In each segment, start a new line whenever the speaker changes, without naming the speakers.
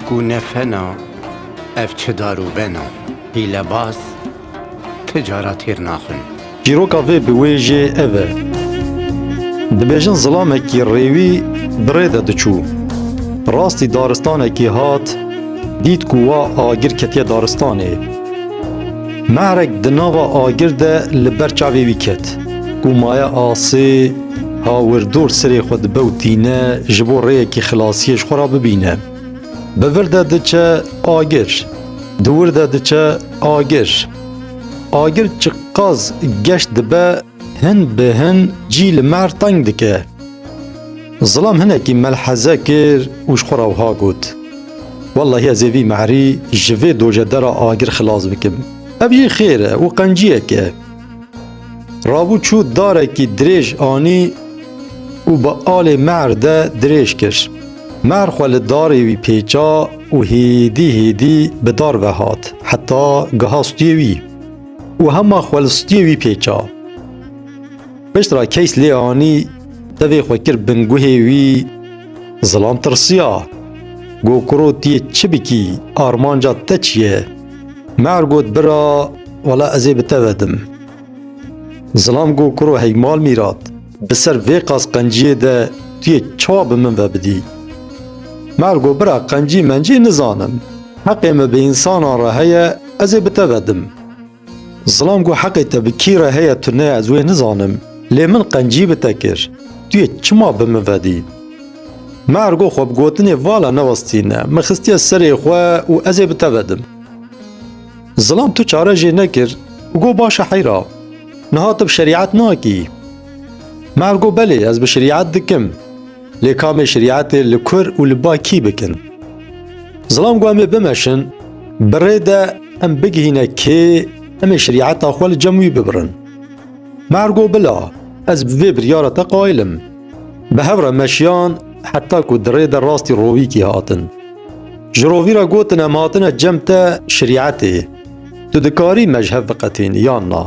Ku ne fena, ev çi dar û bena. Hîlebaz ti cara têr naxin. Çîroka vê bi wê jê ev e. Dibêjin zilamekî rêwî bi rê de diçû. Rastî daristanekî hat, dît ku wa agir ketiye daristanê. Mehrek di nava agir de li ber çavê wî ket. Ku maye asê. Hawir dor sirê xwe dibe û tîne ji bo rêyekî xilasiyê ji xwe re bibîne. Bi vir de diçe agir, di wir de diçe agir. Agir çiqas geş dibe hin bi hin cî li me teng dike. Zilam hinekî melheze kir û ji xwe re wiha got, Wellahî ez ê vî merî ji vê dojedera agir xilas bikim. Ev jî xêr e û qenciyek e. Rabû çû darekî dirêj anî û bi alê mehr de dirêj kir. Mehr xwe li darê wî pêça û hêdî hêdî bi dar ve hat heta giha stûyê wî û hema xwe li stûyê wî pêça. Piştre keys lê anî tevê xwe kir bin guhê wî zilam tirsiya. Got kuro tu yê çi bikî armanca te çi ye? Meher got bira wala ez ê bi te ve dim. Zilam got kuro hey mal mîrat bi ser vê qas qenciyê de tu yê çawa bi min ve bidî. Meher got bira qencî mencî nizanim. Heqê me bi însanan re heye ez ê bi te ve dim. Zilam got heqê te bi kî re heye tu ne ez wê nizanim. Lê min qencî bi te kir. Tu yê çima bi min ve dî? Mergo xwe bi gotinê vala newestîne, min xistiye serê xwe û ez ê bi te vedim. Zilam tu çare jê nekir û got baş e heyra. Niha tu bi şerîet nakî. Mergo belê ez bi şerîet dikim. Lê kamê şerîetê li kur û li ba kî bikin? Zilam got em ê bimeşin, bi rê de em bigihîne kê em ê şerîeta xwe li cem wî bibirin. Mergo bila, ez bi vê biryara te qayil im. Bi hev re meşiyan heta ku di rê de rastî rovîkî hatin. Ji rovî re gotin em hatine cem te şerîetê. Tu dikarî mejhev biqetîn yan na.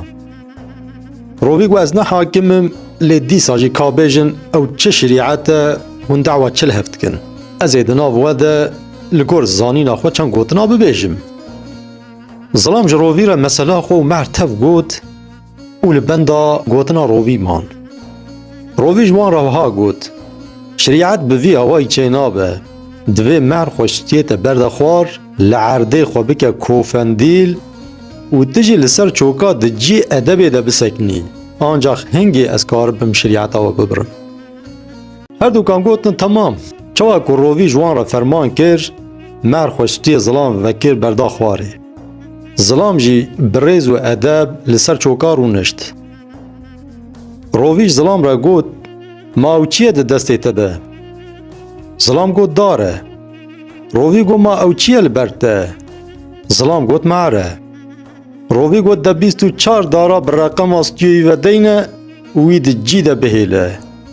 Rovî got ez ne hakim im lê dîsa jî ka bêjin ew çi şerîet e hûn dawa çi li hev dikin. Ez ê di nav we de li gor zanîna xwe çend gotina bibêjim. Zilam ji rovî re mesela xwe û mehr tev got. û li benda gotina rovî man. Rovî ji wan re wiha got, Şerîet bi vî awayî çê nabe, divê mehr xwe şitiyête berde xwar, li erdê xwe bike kofendîl û tu jî li ser çoka di cî edebê de bisekinî, ancax hingê ez karibim şerîeta we bibirim. Herdukan gotin temam. Çawa ku rovî ji wan re ferman kir, mehr xwe şitiyê zilam vekir berda xwarê. Zilam jî bi rêz û edeb li ser çoka rûnişt. Rovîj zilam re got, Ma ew çi ye di destê te de? Zilam got dar e. Rovî got ma ew çi ye li ber te? Zilam got me'er e. Rovî got de bîst û çar dara bi reqema stûyeyî ve deyne û wî di cî de bihêle.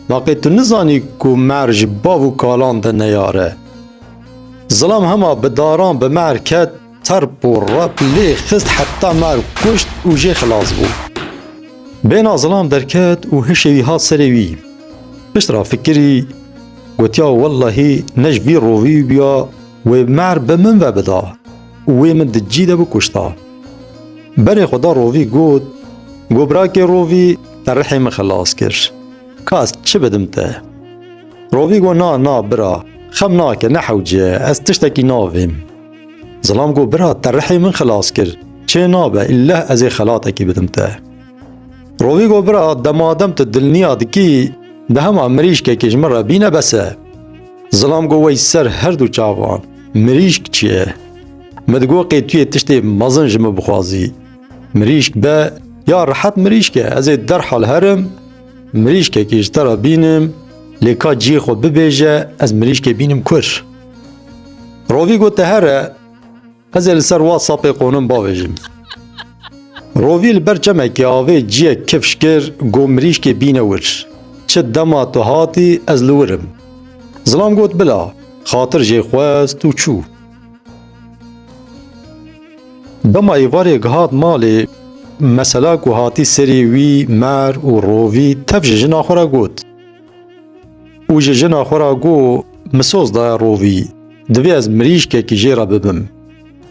Ma qê tu nizanî ku me'er ji bav û kalan de neyar e? Zilam hema bi daran bi mer ket, terp û rep lê xist heta mer kuşt û jê xilas bû. Bêhna zilam derket û hişê wî hat serê wî. Pişt ra fikirî, gotiya wellahî ne ji vî rovî bûya wê mer bi min ve bida û wê min di cî de bikuşta. Berê xwe da rovî got, Go birakê rovî te rihê min xilas kir. Ka ez çi bidim te? Rovî got na na bira, xem nake, nehewce, ez tiştekî navêm. Zilam got bira te rihê min xilas kir, çê nabe îlleh ez ê xelatekî bidim te. Rovî got bira demadem tu dilniya dikî di hema mirîşkekê ji min re bîne bes e. Zilam got wey ser her du çavan, mirîşk çi ye? Min digot qê tu yê tiştê mezin ji min bixwazî. Mirîşk be ya rihet mirîşk e, ez ê derhal herim, Mirîşkekê ji te re bînim, lê ka cihê xwe bibêje ez mirîşkê bînim kur. Rovî gote here, ez ê li ser WhatsAppê qonim bavêjim. Rovî li ber çemekê avê ciyek kifş kir got mirîşkê bîne wir. Çi dema tu hatî ez li wir im. Zilam got bila, xatir jê xwest û çû. Dema êvarê gihat malê, mesela ku hatî serî wî mer û rovî tev ji jina xwe re got û ji jina xwe re got, Min soz daye rovî, divê ez mirîşkekî jê re bibim.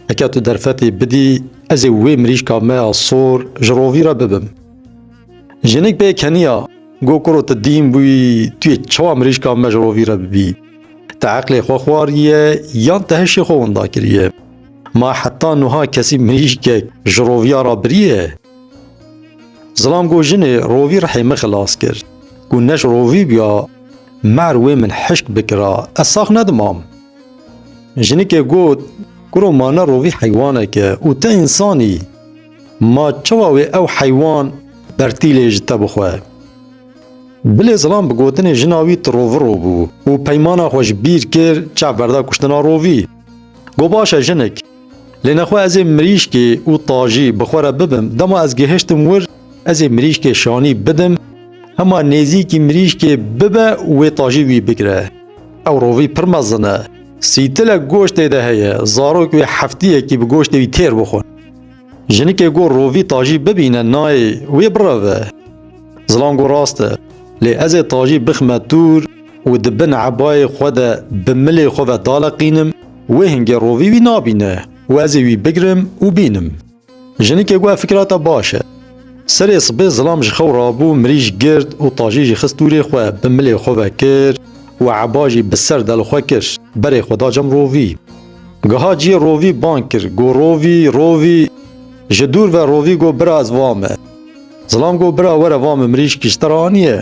Heke tu derfetê bidî, ez ê wê mirîşka me ya sor ji rovî re bibim. Jinik bê keniya, got, Kuro tu dîn bûyî, tu yê çawa mirîşka me ji rovî re bibî? Te eqlê xwe xwariye yan te hişê xwe winda kiriye? Ma heta nuha kesî mirîşkek ji roviya ra biriye? Zilam got jinê rovî rihê min xilas kir. Ku neş rovî biya mer wê min hişk bikira ez sax nedimam. Jinikê got kuro ma ne rovî heywanek e û te însan î. Ma çawa wê ew heywan bertîlê ji te bixwe? Bilê zilam bi gotinê jina wî tiroviro bû û peymana xwe ji bîr kir çav berda kuştina rovî. Got baş e jinik. Lê nexwe ez ê mirîşkê û tajî bi xwe re bibim dema ez gihiştim wir ez ê mirîşkê şanî bidim hema nêzîkî mirîşkê bibe wê tajî wî bigire. Ew rovî pir mezin e. Sîtilek goştê de heye, zarok wê heftiyekî bi goştê wî têr bixwin. Jinikê got rovî Tajî bibîne nayê wê bireve. Zilam got rast e. Lê ez ê Tajî bixme dûr û di bin ebayê xwe de bi milê xwe ve daleqînim, wê hingê rovî wî nabîne û ez ê wî bigirim û bînim. Jinikê got ev fikra te baş e. Serê sibê Zilam ji xew rabû mirîj girt û Tajî jî xist dûrê xwe bi milê xwe ve kir û eba jî bi ser del xwe kir berê xwe da cem rovî. Giha cî rovî bang kir go rovî rovî ji dûr ve rovî go bira ez va me. Zilam go bira were va me mirîşkî ji te re aniye.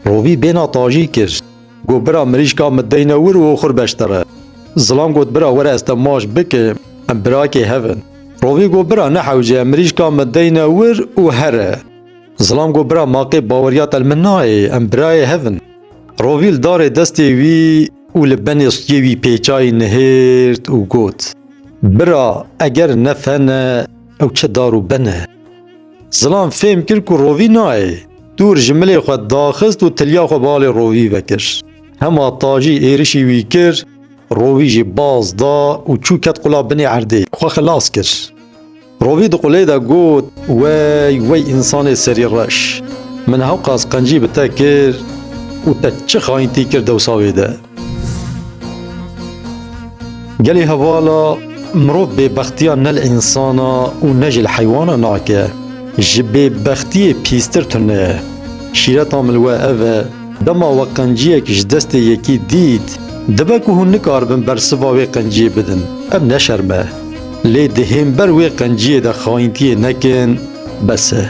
Rovî bêhna tajî kir go bira mirîşka min deyne wir û oxir beş te re. Zilam got bira were ez te maş bike em birakê hev in. Rovî go bira nehewce em mirîşka min deyne wir û here. Zilam go bira maqê baweriya te li min nayê em birayê hev in. Rovîl darê destê wî û li benê stûyê wî pêçayî nihêrt û got, Bira eger ne fen e ew çi dar û bin e? Zilam fêm kir ku rovî nayê. Dûr ji milê xwe daxist û tilya xwe balê rovî vekir. Hema tajî êrişî wî kir, rovî jî baz da û çû ket qula binê erdê. Xwe xilas kir. Rovî di qulê de got. Wey wey însanê serî reş! Min hewqas qencî bi te kir û te çi xayintî kir dewsa wê de? Gelê hevala mirov bêbextiya ne li însan a û ne jî li heywan a nake. Ji bêbextiyê pîstir tune ye. Şîreta min li we ev e, dema we qenciyek ji destê yekî dît, dibe ku hûn nikaribin bersiva wê qenciyê bidin. Em neşerme. Lê di hember wê qenciyê de xayintiyê nekin, bes e,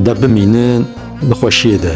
de bimînin di xweşiyê de.